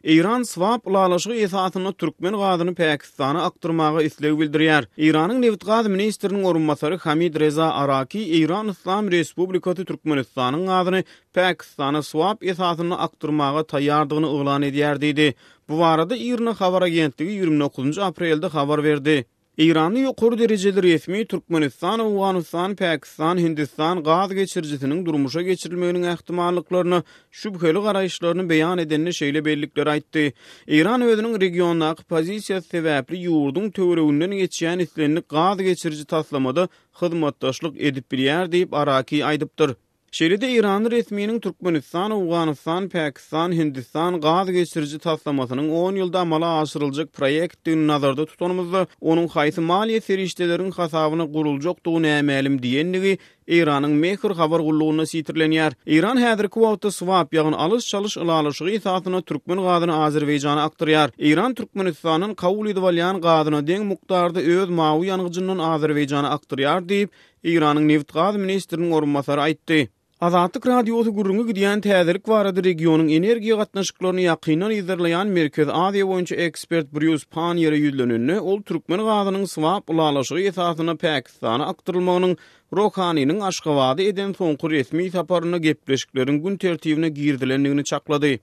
Eýran swap ylalaşygy esasynda türkmen gazyny Pakistana akdyrmaga isleg bildirýär. Eýranyň nebit-gaz ministriniň orunbasary Hamid Reza Araki Eýran Yslam Respublikasy Türkmenistanyň gazyny Pakistana swap esasynda akdyrmaga taýýardygyny yglan edýär diýdi. Bu barada IRNA habar agentligi ýigrimi dokuzynjy aprelde habar berdi. Eýranly ýokary derejeli resmi Türkmenistan, Owganystan, Pakistan, Hindistan gaz geçirijisiniň durmuşa geçirilmeginiň ähtimallyklaryna şübheli garaýyşlaryny beýan edende şeýle bellikleri aýtdy, Eýran özüniň regiondaky pozisiýasy sebäpli ýurduň töwereginden geçýän islendik gaz geçiriji taslamada hyzmatdaşlyk edip bilýär diýip Araki aýdypdyr. Şeýle-de eýranly resminiň Türkmenistan, Owganystan, Pakistan, Hindistan gaz geçiriji taslamasynyň on ýylda amala aşyryljak proýektdigini nazarda tutanymyzda, onuň haýsy maliýe serişdeleriň hasabyna guruljakdygy nämälim diýendigi Eýranyň Mehr habar gullugynda sitirlenýär. Eýran häzirki wagtda swap, ýagny alyş-çalyş ylalaşygy esasynda türkmen gazyny Azerbaýjana akdyrýar. Eýran Türkmenistandan kabul edip alýan gazyna deň mukdarda öz mawy ýangyjyndan Azerbaýjana akdyrýar diýip, Eýranyň nebit-gaz ministriniň orunbasary aýtdy. Azatlyk Radiosy gürrüňi gidýän täzelik barada regionyň energiýa gatnaşyklaryny ýakyndan yzarlaýan Merkezi Aziýa boýunça ekspert Brýus Panniere ýüzlenende, ol türkmen gazynyň swap ylalaşygy esasynda Pakistana akdyrylmagynyň Rohaniniň Aşgabada eden soňky resmi saparynda gepleşikleriň gün tertibine girizilendigini çaklady.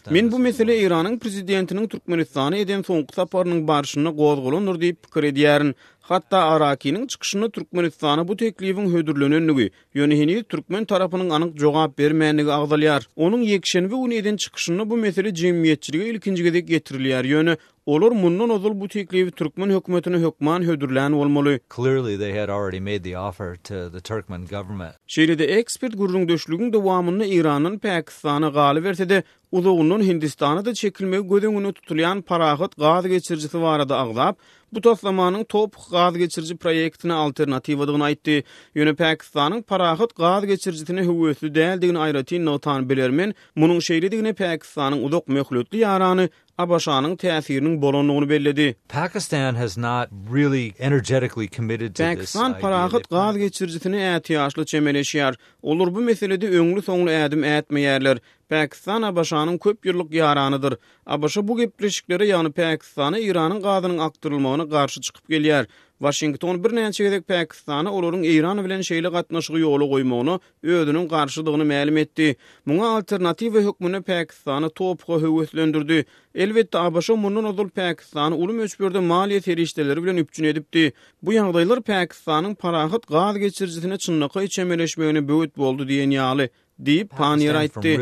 Men bu mesele Eýranyň prezidentiniň Türkmenistana eden soňky saparynyň barşynda gozgalandyr diýip pikir edýärin. Hatda Arakiniň çykyşynda Türkmenistana bu teklibiň hödürlenendigi, ýöne heniz türkmen tarapynyň anyk jogap bermändigi agzalýar. Onuň ýekşenbe güni eden çykyşynda bu mesele jemgyýetçilige ilkinji gezek getirilýär, ýöne Olar mundan ozal bu teklibi türkmen hökümetine hökman hödürlän bolmaly. Clearly they had already made the offer to the Turkmen government. Şeýle-de ekspert gürrüňdeşligiň dowamynda Eýrandan Pakistana, galyberse-de, uzagyndan Hindistana-da çekilmegi göz öňünde tutulýan Parahat gaz geçirijisi barada agzap, bu taslamanyň Toph gaz geçiriji proýektine alternatiwadygyny aýtdy. Ýöne Pakistanyň Parahat gaz geçirijisine höwesli däldigini aýratyn nygtan bilermen, munuň şeýledigine Pakistanyň uzak möhletli ýarany ABŞ-nyň täsiriniň bolandygyny belledi. Pakistan has not really energetically committed to this idea. Pakistan parahat gaz geçirijisine ätiýaçly çemeleşýär. Olar bu meselede öňli-soňly ädim ätmeýärler. Pakistan ABŞ-nyň köp ýyllyk ýaranydyr. ABŞ bu gepleşiklere, ýagny Pakistana Eýranyň gazynyň akdyrylmagyna garşy çykyp gelýär. Waşington birnäçe gezek Pakistana olaryň Eýran bilen şeýle gatnaşygy ýola goýmagyna özüniň garşydygyny mälim etdi. Muňa alternatiwa hökmünde Pakistany TOPH-a höweslendirdi. Elbetde, ABŞ mundan ozal Pakistany uly möçberde maliýe serişdeleri bilen üpjün edipdi. Bu ýagdaýlar Pakistanyň parahat gaz geçirijisine çynlakaý çemeleşmegine böwet boldy diýen ýaly, diýip, Paniýer aýtdy.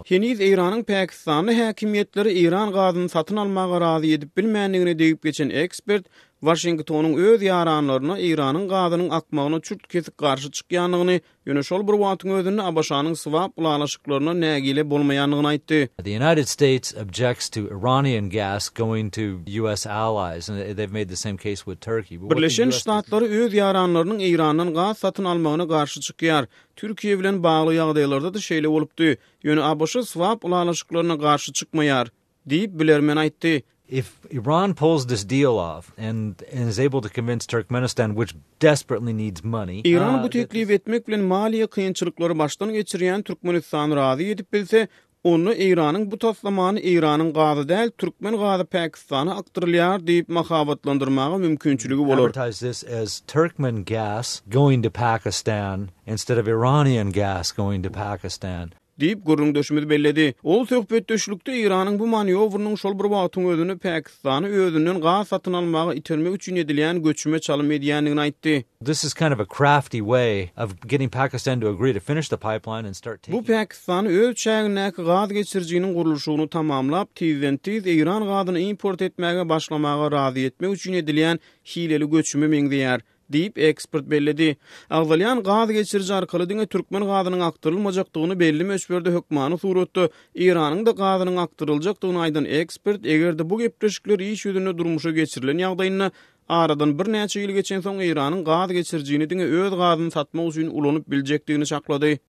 Heniz Eýranyň pakistanly häkimiýetleri eýran gazyny satyn almaga razy edip bilmändigine degip geçen ekspert, Waşingtonyň öz ýaranlaryna Eýranyň gazynyň akmagyna çürt-kesik garşy çykýandygyny, ýöne şol bir wagtyň özünde ABŞ-nyň swap ylalaşyklaryndan nägile bolmaýandygyny aýtdy. The United States objects to Iranian gas going to US allies and they've made the same case with Turkey. Birleşen Ştatlary öz ýaranlarynyň Eýrandan gaz satyn almagyna garşy çykýar. Türkiýe bilen bagly ýagdaýlarda-da şeýle bolupdy. Ýöne ABŞ swap ylalaşyklaryna garşy çykmaýar. Diýip, bilermen aýtdy. If Iran pulls this deal off and and is able to convince Turkmenistan which desperately needs money, Iran bu teklibi etmek bilen maliýe kynçylyklary başdan geçirýän Türkmenistany razy edip bilse, onda Eýranyň bu taslamany Eýranyň gazy däl, türkmen gazy Pakistana akdyrylýar diýip mahabatlandyrmaga mümkinçiligi bolar. advertise this as Turkmen gas going to Pakistan instead of Iranian gas going to Pakistan. Diýip, gürrüňdeşimiz belledi. Ol söhbetdeşlikde Eýranyň bu manýowrynyň şol bir wagtyň özünde Pakistany özünden gaz satyn almaga itermek üçin edilýän göçüme çalym edýändigini aýtdy. Bu Pakistany öz çägindäki gaz geçirijiniň gurluşygyny tamamlap, tizden-tiz Eýran gazyny import etmäge başlamaga razy etmek üçin edilýän hileli göçüme meňzeýär, diýip, ekspert belledi. Agzalýan gaz geçiriji arkaly diňe türkmen gazynyň akdyrylmajakdygyny, belli möçberde hökmany suratda Iranyň-da gazynyň akdyryljakdygyny aýdan ekspert, eger-de bu gepleşikler iş ýüzünde durmuşa geçirilen ýagdaýynda, aradan birnäçe ýyl geçensoň Iranyň gaz geçirijini diňe öz gazyny satmak üçin ulanyp biljekdigini çaklady.